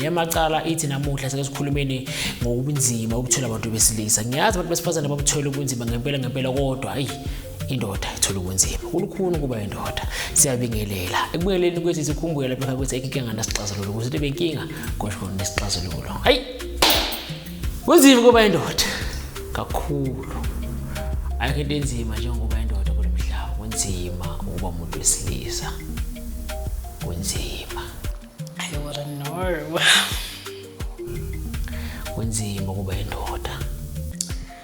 Yamacala ithi namuhla sekusikhulumeni ngobunzima obuthola abantu besilisa. Ngiyazi abantu besifazane babuthola ubunzima ngempela ngempela kodwa ayi indoda ithola ubunzima kulukhuni ukuba indoda siyabingelela ekubingeleni kwethu sikhumbule lapha ukuthi ekinga nasixazululo ukuthi benkinga kodwa nesixazululo hayi Kunzima ukuba indoda kakhulu. Ayikho into enzima njengokuba indoda kulo mhlaba. Kunzima ukuba umuntu wesilisa. Kunzima. I wouldn't know. Kunzima ukuba indoda.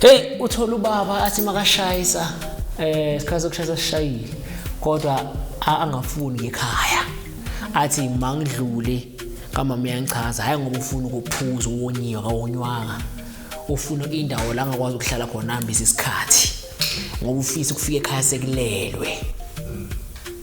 Hey uthola ubaba athi makashayisa eh isikhathi sokushayisa sishayile kodwa angafuni ngekhaya athi mangidlule kamama uyangichaza hayi ngoba ufuna ukuphuza uwonyiwe kawonywanga ufuna indawo la ngakwazi ukuhlala khona hambisa isikhathi ngoba ufisa ukufika ekhaya sekulelwe